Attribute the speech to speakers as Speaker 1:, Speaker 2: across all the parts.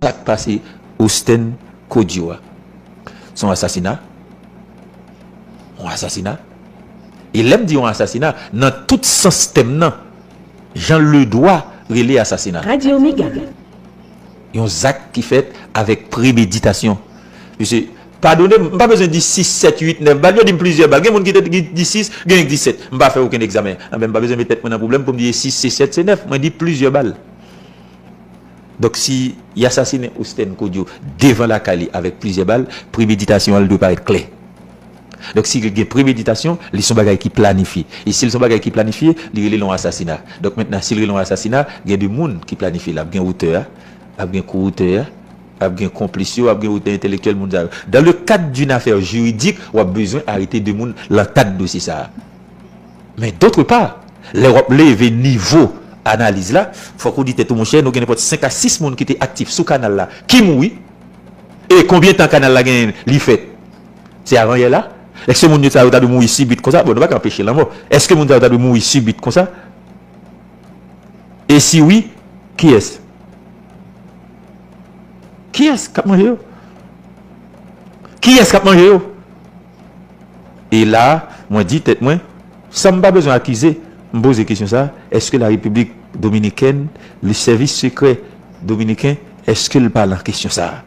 Speaker 1: Sak pase Osten Codio a son asasina, yon asasina e lèm di yon asasina nan tout sans tèm nan jan ledwa rele asasina. Radio Mega. Yon zak ki fèt avèk premeditasyon. Mesye, padonem, m pa bezwen di 6, 7, 8, 9 bal, yo dim plizyè bal, gen moun ki di 6, genyen ki di 7, m pa fè okenn egzamen, anben m pa bezwen met tèt mwen nan pwoblèm poum di e 6, se 7, se 9, mwen di plizyè bal. Donk si y asasinen Osten Kodjo devan lakay li avèk plizyè bal, premeditasyon an li dwe parèt klè. Donk si li gen premeditasyon, li s on bagay ki planifye. E si li s on bagay ki planifye, li rele l yon asasina. Donk mentnan si l rele yon asasina, gen de moun ki planifye l. Ap gen otè a, ap gen ko-otè a, ap gen konplis yo, ap gen otè entèlektyèl moun sa yo. Dan le kad d'une affaire juridique, w ap bezwen arete de moun lan kad dosye sa a. Men dotre pa, lè w ap leve nivo analiz la, fòk ou di tèt ou monchè nou gen nenpòt 5 a 6 moun ki te aktif sou kanal la ki mouri. E konbyen tan kanal la gen li fèt? Se avanyè la? Èske moun yo sa yo ta dwe mouri sibit konsa? Bon nou pa ka anpeche lanmò. Èske moun sa yo ta dwe mouri sibit konsa? E si wi, kiyès? Kiyès k ap manje yo? Kiyès k ap manje yo? E la a, mwen di tèt mwen, san m pa bezwen akize, m poze kesyon sa a, èske la Repiblik Dominikèn, le sèvis sekrè dominiken, èske l pa lan kesyon sa a?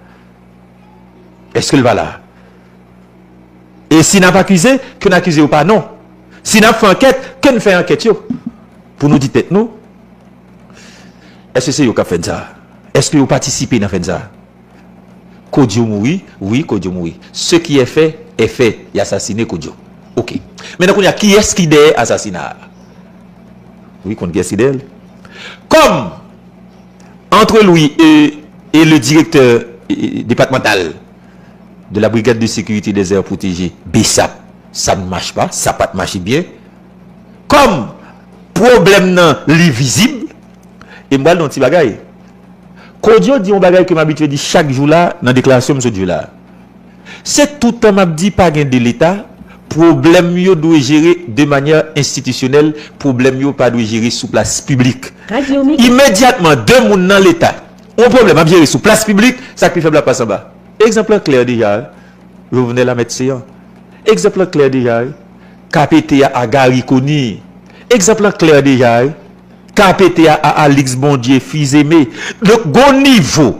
Speaker 1: Èske l pa la a? E si n ap akize, ke n akize yo pa non. Si n ap fè ankèt, ke n fè ankèt yo. Pou nou di tèt nou, èske se yo k ap fè n sa a? Èske yo patisipe nan fè n sa a? Kodjo mouri wi kodjo mouri se ki è fè è fè y asasine kodjo ok men nan kounye a ki ès ki dèyè asasina a wi konn ki ès ki dèyèl kòm antre lwi e le direktè depatmantal de la brigad de sekirite dè zè pwoteje bsap sa n mach pa sa pat mache byen kòm pwoblèm nan li vizib e m bal di yon ti bagay. Kodio di yon bagay ke m abitye di chak jou la nan deklarasyon m sot jwe la. Se toutan m ap di pa gen 2 leta, pwoblèm yo dwe jere de manyè enstitisyonèl, pwoblèm yo pa dwe jere sou plas piblik. Imedyatman 2 moun nan leta, yon pwoblèm ap jere sou plas piblik, sa k pi fèb la ap pase anba. Egzanp lan klè deja wi, Jovenel a mèt Seyan. Egzanp lan klè deja wi, KPT a Gary Conille. Egzanp lan klè deja wi. Kapete a a Alix Bondye fizeme donk gon nivo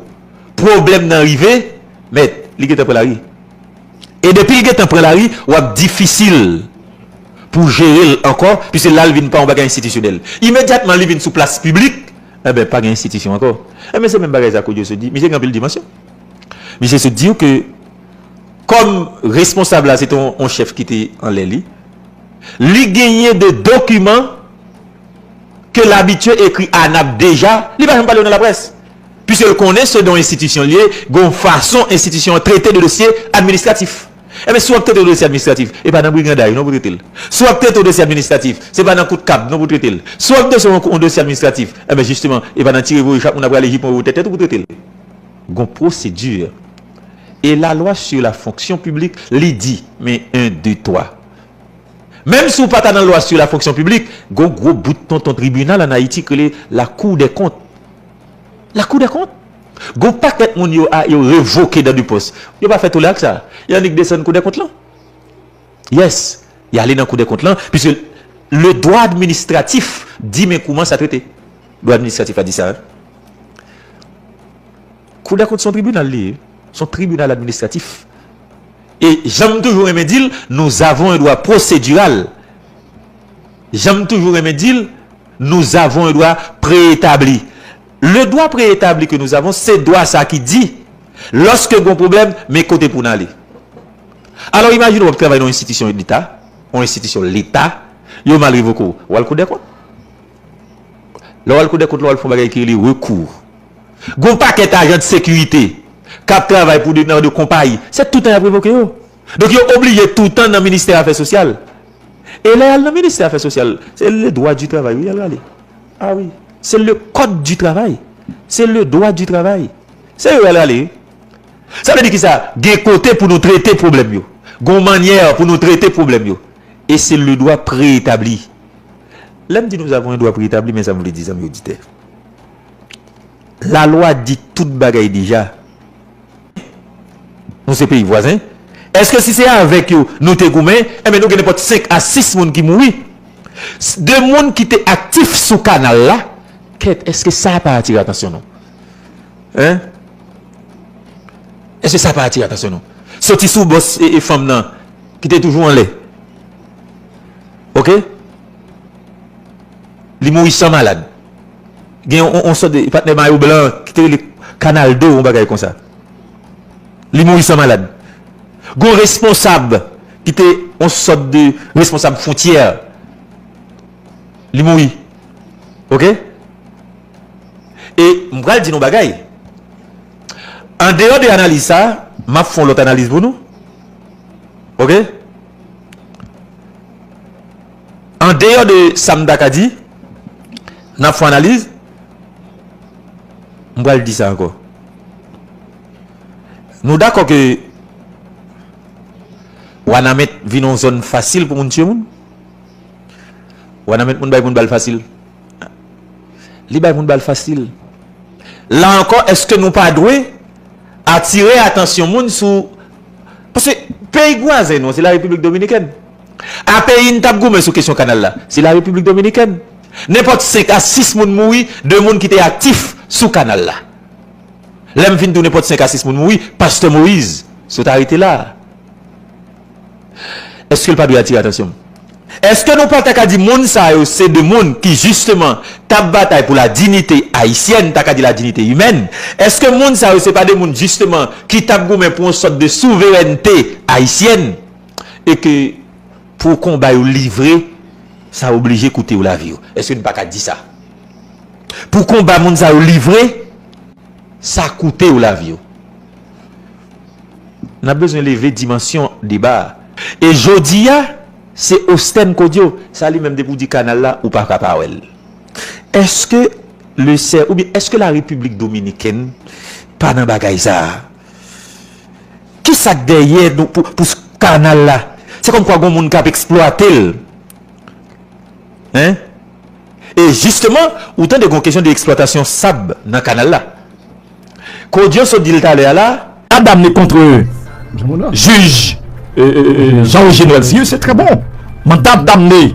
Speaker 1: pwoblèm nan rive mèd li gentan pran lari e depil gentan pran lari wap difisil pou jerel ankò piske lal vin pran yon bagay enstitisyonèl imedyatman li vin sou plas piblik enben pa gen enstitisyon ankò enben se menm bagay sa Kodjo sot di misye gen anpil dimansyon misye sot diw ke kòm responsab la se te yon chèf kite anlè li li genyen de dokiman. ke l abitye ekri ANAP deja, li pa janm pale yo nan laprès. Piske l konnen se don enstitisyon li ye, gen yon fason enstitisyon an trete de dosye administratif. Enben, si w ap trete yon dosye administratif, e pa nan briganday non pou w trete l. Si w ap trete yon dosye administratif, se pa nan kout kab non pou w trete l. Si w ap trete yon dosye administratif, enben jisteman, e pa nan tire voye chak moun ap rale jipon e wotè tèt ou pou w trete l. Gen yon pwosedi. E lalwa sou la fonksyon piblik, li di, men 1, 2, 3. Menm si w pa ta nan lwa su la fonksyon piblik, gon gwo bout tonton tribinal an Ayiti k rele la kou dè kont. La kou dè kont? Gon pakèt moun yo a yo revoke dan de pòs. Yo pa fè tole ak sa. Y annik desann kou dè kont lan. Yes, y ale nan kou dè kont lan, piske le dwa administratif di men kouman sa trete. Dwa administratif la di sa. Kou dèkont son tribinal li ye, son tribinal administratif. E jan m toujou renmen di l, nous avons un droit procédural. Jan m toujou renmen di l, nous avons un droit préétabli. Le droit préétabli que nous avons, se dwa sa ki di, loske gon pwoblèm, men kote pou n ale. Alò imajine w ap travay nan yon enstitisyon deta, yon enstitisyon leta, yo mal revoke w, w al kou dèkont? Lè w al kou dèkont la w al fè yon bagay ki rele rekou. Gen yon pakèt ajan de sekirite k ap travay pou nan de konpayi. Se toutan y ap revoke yo. Donk yo oblije toutan nan ministè afè sosyal. E lè y al nan ministè afè sosyal, se le dwa di travay wi y al rale. A wi. Se le kòd di travay. Se le dwa di travay. Se yo y al rale wi. Sa vle di ki sa? Gen kote pou nou trete pwoblèm yo. Gen yon mannyè pou nou trete pwoblèm yo. E se le dwa pre-etabli. Lè m di nou zav on dwa pre-etabli men sa m vle di zanmi oditè. La lwa di tout bagay deja. Nou se peyi vwazen. Eske si se avek yo nou te goumen, enben nou gen nenpot 5 a 6 moun ki mouri. De moun ki te aktif sou kanal la, kèt eske sa pa atire atansyon nou? Hein? Eske sa pa atire atansyon nou? Soti sou bos e fanm nan ki te toujou anlè. Ok? Li mouri san malad. Gen yon sòt de patnè mayo blan ki te rele Kanaldo, yon bagay konsa. Li mouri san malad. Gen yon responsab ki te yon sòt de responsab fwontyè. Li mouri. Ok? E m pral di nou yon bagay. An deyò de analiz sa, m ap fè yon lòt analiz pou nou. Ok? An deyò de sa m ta ka di, nan fon analiz, m pral di sa ankò. Nou dakò ke Wanament vin yon zòn fasil pou moun tiye moun? Wanament moun bay moun bal fasil. Li bay moun bal fasil. La ankò, èske nou pa dwe atire atansyon moun sou, paske peyi vwazen nou an se la Repiblik Dominikèn. A peyi n t ap goumen sou kesyon kanal la, se la Repiblik Dominikèn. Nenpòt 5 a 6 moun mouri de moun ki te aktif sou kanal la. Lè m fin tou nenpòt 5 a 6 moun mouri, pastè Moyiz sot arete la a. Eske l pa dwe atire atansyon m? Eske nou pa ta ka di moun sa yo se de moun ki jisteman t ap batay pou la dinite ayisyèn, m ta ka di la dinite imèn? Eske moun sa yo se pa de moun jisteman ki t ap goumen pou yon sòt de souverènte ayisyèn? E ke pou konba yo livre, sa oblije koute yo lavi yo. Eske nou pa ka di sa? Pou konba moun sa yo livre, sa koute yo lavi yo. N ap bezwen leve dimansyon deba a. E jodi a, se Ostèn Kodio, sa li menm depi w di kanal la, ou pa ka pa wè l. Eske lesè oubyen eske Larepiblik Dominikèn pa nan bagay sa a? Kisa k dèyè pou kanal la? Se kòmkwa gon moun k ap eksplwate l. E jisteman, ou tande gon kesyon de eksplwatasyon sab nan kanal la. Kodian sot di l talè a la. A damne kontre
Speaker 2: jij Jean Roger Noël si se trè bon. Manda damne.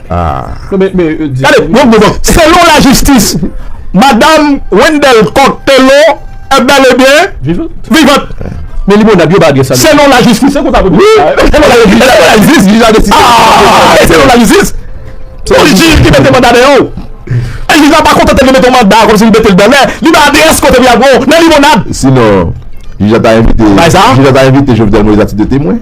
Speaker 2: Selon la jistis, madam Wendelle Coq Thélot est bel et bien vivante. Selon la
Speaker 3: jistis, selon la
Speaker 2: jistis, pou jij ki mete manda deyò ou, e jij la pa kontante li mete yon manda kòmsi li mete l dèyè, li bay adrès kote pou y al pran w nan Limonad. Sinon,
Speaker 4: jij la ta envite Jovenel Moïse a tit de temwen.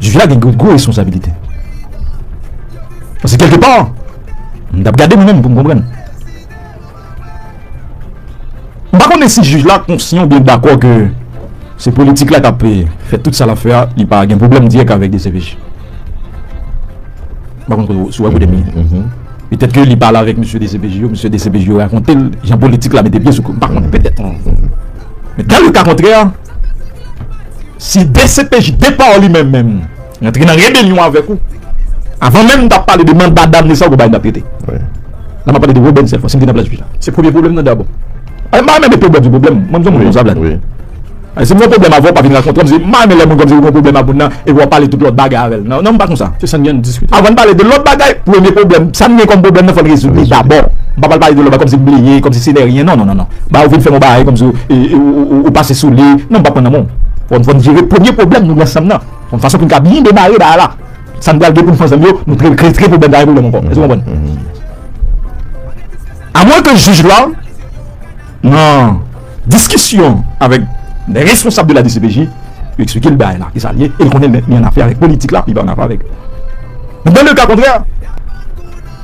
Speaker 2: jij la gen gwo gwo responsabilite. Paske kèlke pa, m tap gade mwen menm pou m konprann. M pa konnen si jij la konsyan oubyen dakò ke se politik la kap fè tout sa lap fè a, li pa gen pwoblèm dirèk avèk dcpj. M pa konn si w wè kote m ye. Petèt ke li pale avèk mesye dcpj yo, mesye dcpj yo rakonte l jan politik la mete pye sou kote, m pa konnen, petèt. Men dan le ka kontrè a. Si dcpj depa w li menm menm rantre nan rebelyon avèk ou avan menm n ta pale de manda damne sa w konprann n ta trete la m ap pale de Robben sèlman si m te nan plas jij la se premye pwoblèm nan dabò m pa renmen depi w bal di pwoblèm mwen m son moun konsa Vlad si m gen yon pwoblèm avè w pa vin rakontre m se m pa renmen lè moun konn m se ou gen yon pwoblèm ak moun nan epi w ap pale tout lòt bagay avè l nan m pa konsa avan n
Speaker 3: pale de lòt bagay
Speaker 2: premye pwoblèm sa n gen kòm pwoblèm nan fò n rezoud li dabò m pa pral pale de lòt bagay kòmsi m bleye kòmsi se de ryen non non non Ba ou vin fè m yon bagay kòmsi ou pase sou li. Non m pa p pran nan men w. Fò n jere premye pwoblèm nou nan chanm nan yon fason pou n ka byen demare bagay la. Sa n pral gen pou n fè ansanm yo, nou trete l pou n pa gen pwoblèm ankò. Èske w konprann? Amwen ke jij la nan diskisyon avèk lè responsab de la dcpj li eksplike l bagay la ki sa l ye e l konnen li annafè avèk politik la li pa annafè avèk. Men nan le ka kontrè.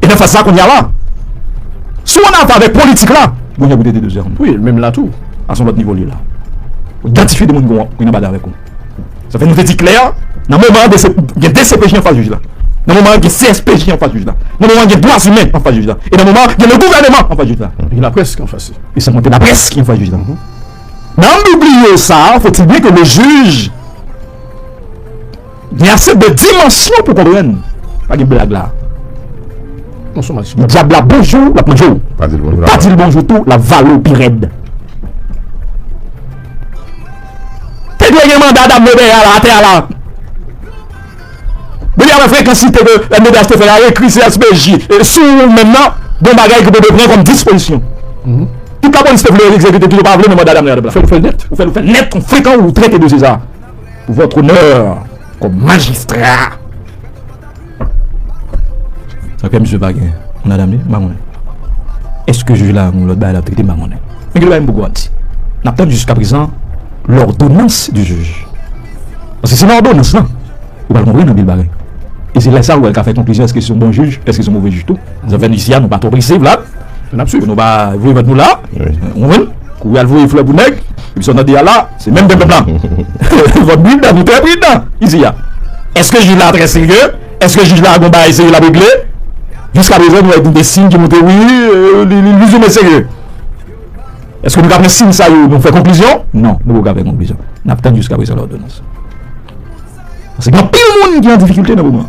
Speaker 2: E nan faz sa kounye a la, si w an anfavè politik la, bon nèg ou te dedoze anvan. Wi, menm la tou,
Speaker 3: a s on lòt nivo li ye la.
Speaker 2: Ou idantifye de moun ki w nan bagay avèk ou. Sa fè nou te di klè, nan moman an gen dcpj anfas jij la, nan moman an gen CSPJ anfas jij la, nan moman an gen dwazimen anfas jij la, e nan moman an gen le gouvèneman anfas jij la. Gen laprès ki anfas
Speaker 3: li. E san konte laprès ki
Speaker 2: anfas jij la. Nan an bliye sa, fòtil byen ke le jij. Gen ase de dimansyon pou konprann. Pa gen blag la.
Speaker 3: Dyab la bonjou
Speaker 2: lap manje w. Pa di l bonjou tou lap vale w pi rèd. Te dwe gen manda dam Lobey a la atè a la. Depi apre frekansite ke dam Lobey a te fè a ekri CSPJ sou ou menm nan, gen bagay ke Bebe pran kòm dispozisyon. Tout lapolis te vle egzekite, tout yo pa vle men manda dam la. Ou fè l nèt kon frekan ou trete dosye sa. Votre honneur kom majistra. Aprè misye pa gen madam li, m pa konnen. Eske jij la gen lòt bagay l ap trete m pa konnen. Men gen lòt bagay m poko ap di. N ap tann jiska prezan lòdonans di jij. Paske se nan òdonans lan ou pral konprann anpil bagay. E se lè sa ou pral ka fè konklizyon eske se yon bon jij, eske se yon move jij tou. Zafè nou isi a nou pa twò prese vla. N ap swiv. Nou pa voye vant nou la. Ou konprann? Kouri al voye flè pou nèg. Epi sa w tande a la. Se menm de pèp la. Vòt bridan nou trè pridan izi a. Eske jij la trè serye? Eske jij la gon bagay serye lap regle? Jiska prezan nou wè gen de siy ki montre wi li pizoumen serye. Eske nou ka pran siy sa yo nou fè konklizyon? Non nou poko ka fè konklizyon. Nap tann jiska prezan lòdonans. Pase gen anpil moun ki an difikilte nan moman.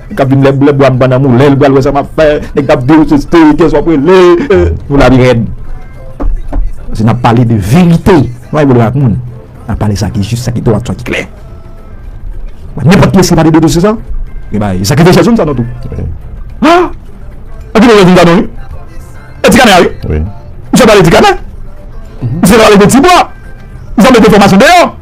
Speaker 2: Nèg kap vin lèblèb bwa anban nan moulen li pral wè sa map fè nèg kap diw se steri kyes wap rele nou la pi rèd paske nap pale de verite nou pa gen problèm ak moun nap pale sa ki jis sa ki dwat sa ki klè ba nenpòt kyes ki pale de dosye sa gen bagay sa krive chèzoun sa non tou ha anpil moun gen vin gadon wi e ti kanè a wi misye pale ti kanè misye pale de ti bwa misye ap mete enfòmasyon deyò.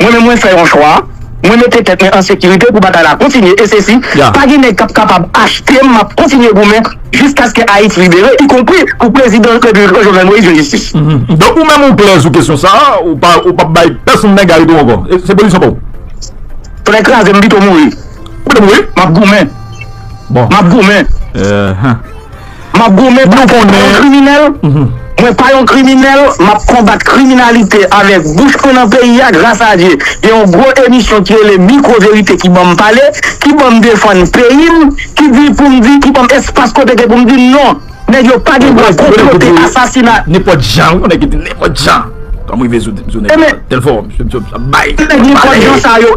Speaker 5: Mwen menm mwen fè yon chwa, mwen mete tèt mwen an sekirite pou batay la kontinye e sesi pa gen nèg kap kapab achte m map kontinye goumen jiskaske Ayiti libere ikonpri pou prezidan repiblik lan Jovenel Moïse jwenn jistis. Donk ou menm ou klè
Speaker 2: sou kesyon sa a, ou pa ou pap bay pèsonn nèg arete w ankò, se pozisyon pa w? Tonè
Speaker 5: kraze m m pito mouri. Ou pito mouri? Map
Speaker 2: goumen.
Speaker 5: Bon. Map
Speaker 2: goumen.
Speaker 5: Eehh. Map goumen pou mwen pa yon kriminèl, mwen pa yon kriminèl, map konbat kriminalite avèk bouch mwen nan peyi a, gras a Dye gen yon gwo emisyon ki rele mikwo verite ki banm pale, ki banm defann peyi m, ki di poum di, ki banm espas kote ke poum di non, nèg yo pa gen dwa konplote asasina. Nenpòt jan wi yon nèg
Speaker 2: ki di nenpòt jan kòm rive sou nèg yo tel fò misye ap bay ap
Speaker 5: pale.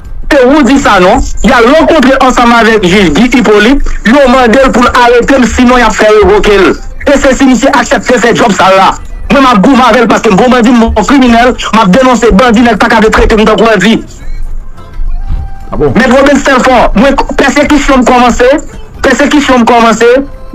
Speaker 5: Se Roudy Sanon, y al rankontre ansanm avèk jij Guy Hyppolite, yo mande l pou l arete m sinon y ap fè revoke l. E se si misye aksepte fè djòb sal la. Mwen m ap goumen avè l paske m bon bandi, m bon kriminèl, m ap denonse bandi, nèg pa ka vle trete m tankou bandi.
Speaker 2: Mèt Robens Telfort,
Speaker 5: mwen pèsekisyon m kòmanse, pèsekisyon m kòmanse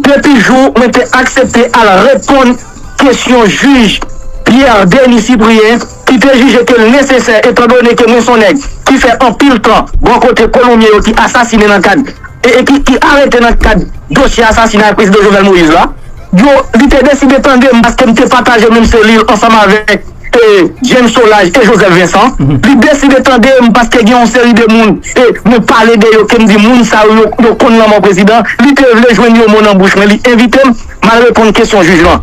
Speaker 5: depi jou mwen te aksepte al reponn kesyon jij Pierre Denis Cyprien, ki te jije ke l nesesè etandone ke mwen s on nèg ki fè anpil tan bò kote kolonbyen yo ki asasine nan kad e ki ki arete nan kad dosye asasinay Prezidan Jovenel Moïse la. Yo, li te deside tande m paske m te pataje menm selil ansanm avèk e James Solage e Joseph Vincent. Li deside tande m paske gen yon seri de moun e mwen pale de yo ke m di moun sa yo yo konn lanmò Prezidan. Li te vle jwenn yon mo nan bouch mwen, li envite m, m al reponn kesyon jij lan.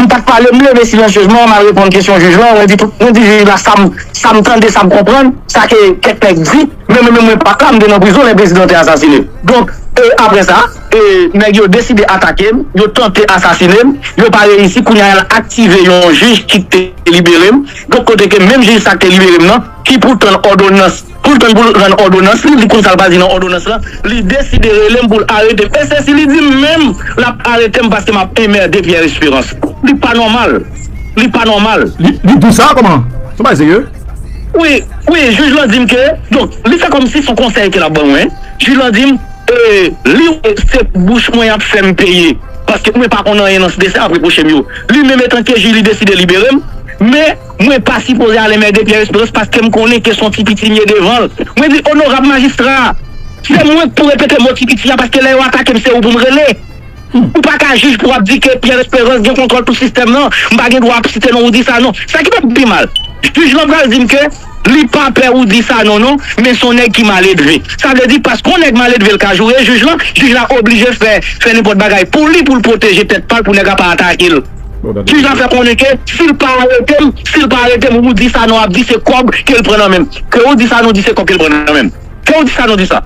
Speaker 2: M
Speaker 5: pat pale, m leve silansyezman, m al reponn kesyon jij la, mwen di tout, mwen di jij la sa m, sa m tande, sa m konprann, sa ke kèk nèg di, men mwen menm mwen pat la, m te nan prizon lè prezidan te asasine. Donk, e aprè sa, e nèg yo deside atake m, yo tante asasine m, yo pa reyisi, kounye a y al aktive yon jij ki te libere m, donk kote ke menm jij sa k te libere m nan, ki poutan òdonans. Pou l tann pou l rann òdonans li, li konn sa l pral di nan òdonans lan, li deside rele m pou l arete m. E se si li di m menm l ap arete m paske m ap enmerde Pierre Esperance. Li pa nòmal. Li pa nòmal. Li di sa? Kòman? Se
Speaker 2: yon bagay serye? Wi,
Speaker 5: wi, jij lan di m ke, donk, li fè kòm si se yon konsèy ke l ap ban mwen. Jij lan di m, e li wè se bouch mwen y ap fè m peye paske mwen pa konn anyen nan sde sa y ap repwoche m yo. Li menm etan ke jij li deside libere m. Men. Mwen pa sipoze ale mède Pierre Esperance paske m konnen ke son ti piti m ye devan l. Mwen di onorab majistra, se mwen k pou repete mo ti piti a paske lè yo atake m se ou pou m rele. Ou pa ka jij pou w ap di ke Pierre Esperance gen kontwòl tout sistèm nan, m pa gen dwa ap site non Roudy Sanon. Sa ki p ap pi mal, jij lan pral di m ke li pa pè Roudy Sanon non, men son nèg ki maledve. Sa vle di paske yon nèg maledve l ka joure jij lan, jij la oblije fè fè nenpòt bagay pou li pou l pwoteje tèt pa l pou nèg la pa atake l. Kijan fè konnen ke sil pa aretem sil pa aretem Roody Sanon ap di se kòb kel pran nan menm ke Roody Sanon di se kòb kel pran nan menm ke Roody Sanon di sa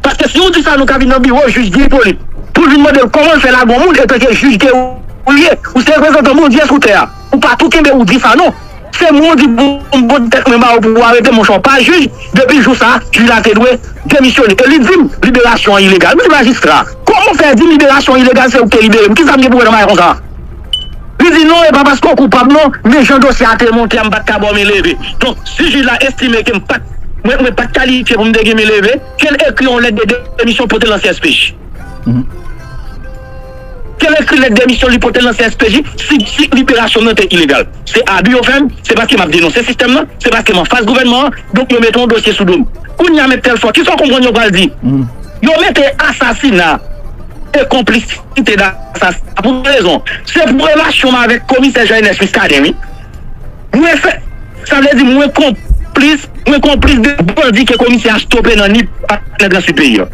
Speaker 5: paske si Roody Sanon ka vin nan biwo jij Guy Hyppolite poul vin mandel kòmanl fè lagon moun etanke jij ke ou ye ou se reprezantan Bondye sou tè a ou pa tou kenbe Roody Sanon. Se mwen ki pou mwen tèt mwen ba ou pou arete monchè w pa jij, depi jou sa jij la te dwe demisyone e li di m liberasyon an ilegal, m di majistra kòman w fè di m liberasyon an ilegal se ou ki te libere m, kisa m gen pou wè nan bagay konsa li di non e pa paske w koupab non men jan dosye a te monte a m pat ka ba w men leve donk si jij la estime ke m pat mwen pat kalifye pou m te gen men leve ke l ekri yon lèt de demisyon pote l nan CSPJ. Kel ekri lèt demisyon li pote l nan CSPJ si si liberasyon m nan te ilegal. Se abi yo fè m, se paske m ap denonse sistèm nan, se paske m anfas gouvènman an, donk yo mete yon dosye sou do m. Kounye a Mèt Tèlfò, kisa w konprann yo pral di? Yo mete asasina e konplisite nan asasina pou ki rezon? Se pou relasyon m avèk komisè Jean Ernest Muscadin wi. Mwen fè, sa vle di mwen konplis, mwen konplis de bandi ke komisè a stope nan Nip ak nan gran Sid peyi an.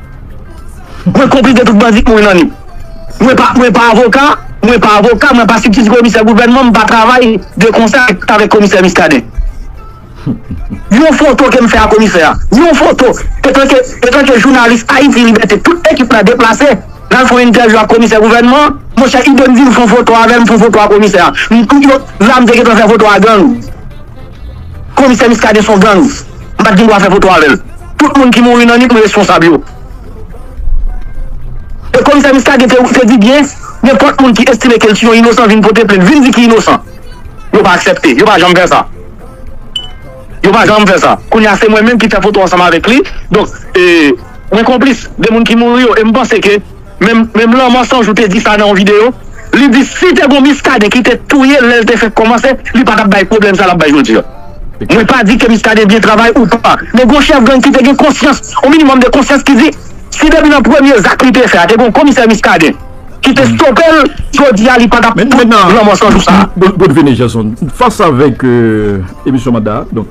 Speaker 5: Mwen konplis de tout bandi k mouri nan nip. Mwen pa mwen pa avoka, mwen pa avoka, mwen pa sibtiti komisè gouvènman, m pa travay de konsè avèk komisè Muscadin. Yon foto ke m fè a komisè a, yon foto, etanke etanke jounalis Ayiti Libète tout ekip la deplase n al fè yon entèvyou ak komisè gouvènman an, monchè Ido m di l fè yon foto avè m, m fè yon foto a komisè a. M tout yo la m te gentan fè foto a gang. Komisè Muscadin son gangs. M pat gen dwa fè foto avèl. Tout moun ki mouri nan nip m responsab yo. E komisè Muscadin te di byen nenpòt moun ki estime kel t yon inosan vin pote plent vin di ki inosan. Yo pa aksèpte. Yo pa janm fè sa. Yo pa janm fè sa. Kounya se mwen menm ki fè foto ansanm avèk li. Donk mwen konplis de moun ki mouri yo e m panse ke Menm lanmò san jou te di sa nan yon video li di si te gon miskaden ki te touyel lèl te fèk kòmanse li patap bay pwoblèm sa lap bay jodi an mwen pa di ke miskaden byen travay ou pa men gon chèf gang ki te gen konsyans yon minimòm de konsyans ki di si depi nan premye zak li te fè a te gon komisè miskaden ki te stopel jodi a li patap fè lanmò san jou sa. Godfene Jason
Speaker 4: fas avèk emisyon manda.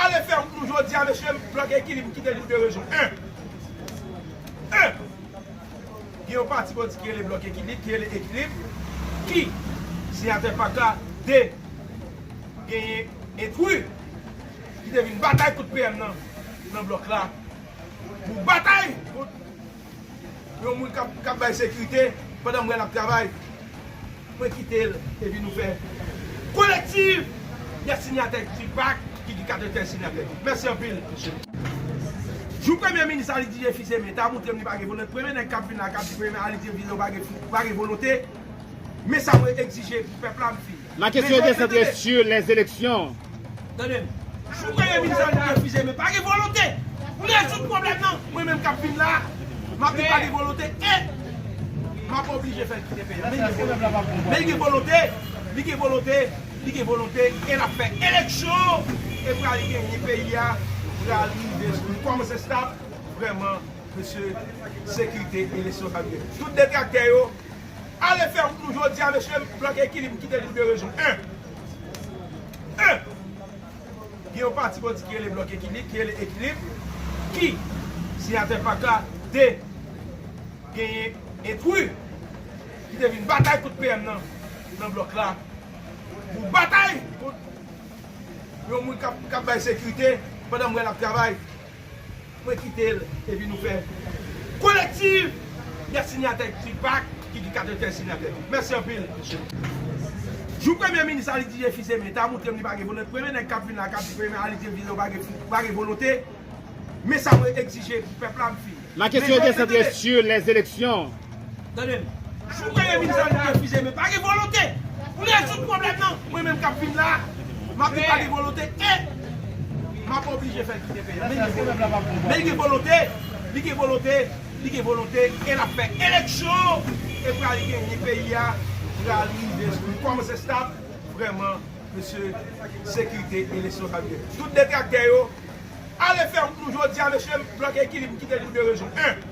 Speaker 6: Ale fè wout nou jodia mesye blòd ekilib m kite n pou 2 rezon 1 1 gen yon pati bandi ki rele blòk ekilib ki rele ekilib ki siyatè pak la 2 genyen entri ki te vin batay kont PM nan nan blòk la pou batay kont Yon moun kap bay sekirite pandan m wè lap travay mwen kite l epi nou fè kolektiv de sinyatè Tupac ki gen 93 sinyatè mèsi anpil mesye. Jou premye minis Alidije Fils Aimé ta moutrem li pa gen volonte premye nèg kap vin la kap di premye Alidije Fils Aimé ou pa gen volonte men sa mwen egzije pou pèp la m fin. Ma kesyon yo te santre
Speaker 7: sur les elections. Tande m.
Speaker 6: Jou premye minis la te refize men pa gen volonte pou rezoud pwoblèm nan. Mwen menm k ap vin la a, m ap di pa gen volonte e m ap oblije fè l kite peyi a. Men gen volonte. Men li gen volonte. Li gen volonte. Li gen volonte e l ap fè eleksyon e pral genyen. Peyi a pral rive sou li. Kòman se stab? Vrèman mesye sekirite eleksyon sa dwe. Tout detraktè yo Ale fè wout nou jodia mesye blòk ekilib kite nou de rezon 1 1 gen yon pati bandi ki rele blòk ekilib ki rele ekilib ki siyatè pak la 2 genyen entwi ki te vin batay kont PM nan nan blòk la pou batay kont yon moun kap kap bay sekirite pandan m wè lap travay. Mwen kite l epi nou fè kolektiv de sinyatè ki pa ki gen 95 sinyatè. Mèsi anpil mesye. Jou premye minis Alidije Fils-Aimé ta moutrem li pa gen volonte premye nèg kap vin la kap di premye minis Alidije Fils-Aimé ou pa gen volonte men sa mwen egzije pou pèp la m fin. Ma kesyon yo te santre
Speaker 7: sur les elections. Tande m.
Speaker 6: Jou mwen ye minzal m refize men pa gen volonte pou rezoud pwoblèm nan. Mwen menm k ap vin la a, m ap di pa gen volonte e m ap oblije fè l kite peyi a. Men gen volonte. Men gen volonte, li gen volonte, li gen volonte e l ap fè eleksyon e pral genyen peyi a pral rive sou li. Kòman se stab? Vrèman mesye sekirite eleksyon sa vle. Tout detraktè yo. Ale fè wout nou jodi a mesye m bloke ekilib m kite l pou 2 rezon 1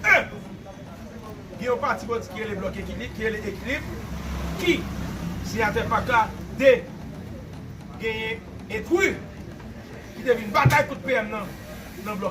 Speaker 6: 1 gen yon pati bandi ki rele bloke ekilib ki rele ekilib ki siyatè pak la 2 genyen entru ki te vin batay kont PM nan nan bloke.